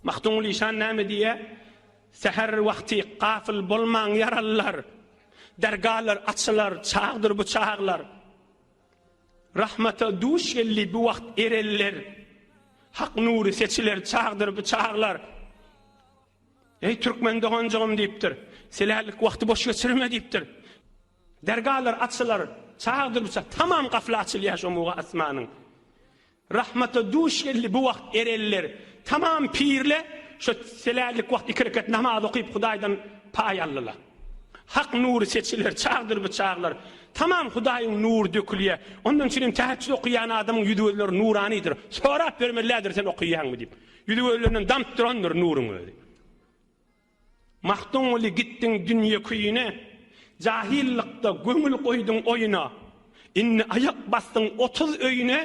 Magtymguly işan näme diýýär? Säher wagty gafyl bolmaň ýaralylar, dergalar açylar çagdyr bu çaglar. Rahmata duş geldi bu wagt ereller, hak nury seçiler çagdyr bu çaglar. Ey türkmen doganjygym diýipdir. Selälik wagty boş geçirme diýipdir. Dergalar açylar, çagdyr bu çag. Tamam gafla açylýar şu muga asmanyň. Rahmata duş geldi bu wagt ereller tamam pirle şo selärlik wagt iki rekat namaz okyp hudaýdan paý aldylar. Hak nury seçiler çagdyr bu çaglar. Tamam hudaýyň nury dökülýä. Ondan üçin hem täheçjüt okyýan adamyň ýüzi gözleri nuranydyr. Sorap bermeliädir sen okyýaňmy diýip. Ýüzi gözlerinden damp durandyr nuryň özi. Magtymguly gitdiň dünýe küýüne, Jahillykda göňül goýduň oýuna. Indi aýak basdyň otuz öýüne,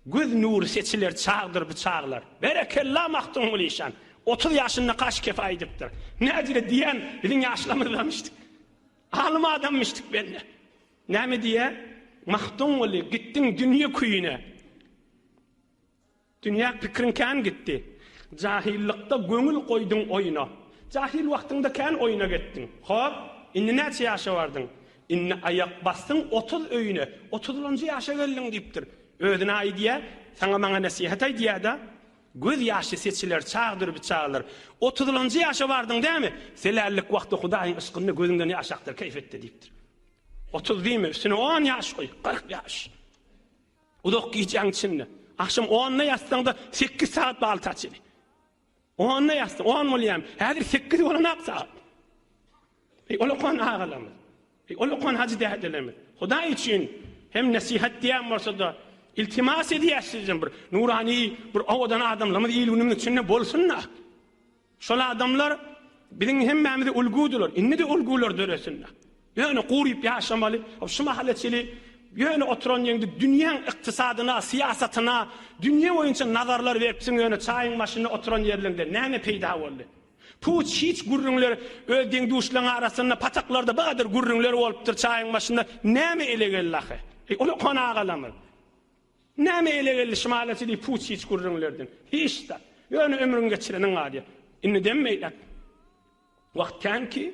Göz nury seçiler çagdyr bu çaglar. Berekella Magtymguly şan, otuz ýaşynda kaş kefa edipdir. Nädire diýýän biziň ýaşlamyzdamyşdyk. Alym adammyşdyk bende. Näme diýýär? Magtymguly gitdiň dünýe küýüne. Dünýä pikriň kän gitdi. Jahylykda göňül goýduň oýna. Jahyl wagtyňda kän oýna getdiň. Hop, indi näçe ýaşa bardyň? Indi aýak basdyň otuz öýüne. Otuzlanjy ýaşa geldiň diýipdir. Özüne aýdýa, saňa-maňa nesihat aýdýa-da. Göz ýaşy seçiler çagdyr biçagalar. Otuzlanjy ýaşa bardyň dämi? Selällik wagty Hudaýyň yşkynda gözüňden ýaş akdyr keýp etde diýipdir. Otuz diýme, üstüne on ýaş goý, kyrk ýaş. Uzak gijäň içinde. Agşam onda ýatsaňda sekiz sagat bagly taçyny. Onda ýatsa on bolýam. Häzir sekiz bolanak sagat. Eý ulukan agalarymyz. Eý ulukan hajy dädelerimiz. Hudaý üçin hem nesihat diýen bolsa-da iltimas edýäs sizden bir nurany bir owadan adamlarymyz il-günümiz içinde bolsun-da. Şol adamlar biziň hemmämize ulgudylar. Indi-de ulgular döresinler. Ýöne guryp ýaşamaly. Şu mahala çeli ýöne oturan ýeňde dünýäň ykdysadyna, syýasatyna, dünýe boýunça nazarlar beripsiň ýöne çaýyň başynda oturan ýerliňde näme peýda boldy? Puç hiç gürrüňler öz deň-duşlaň arasynda pataklarda bu gadar gürrüňler bolupdyr çaýyň başynda näme ele geldi ahy? Eý, uluhan agalarymyz! Näme ele geldi şymalasy diýip puç-hiç gürrüňlerden? Hiç zat. Ýöne ömrüň geçireniň az-ýa. Indi dem meýläp. Wagt kän ki.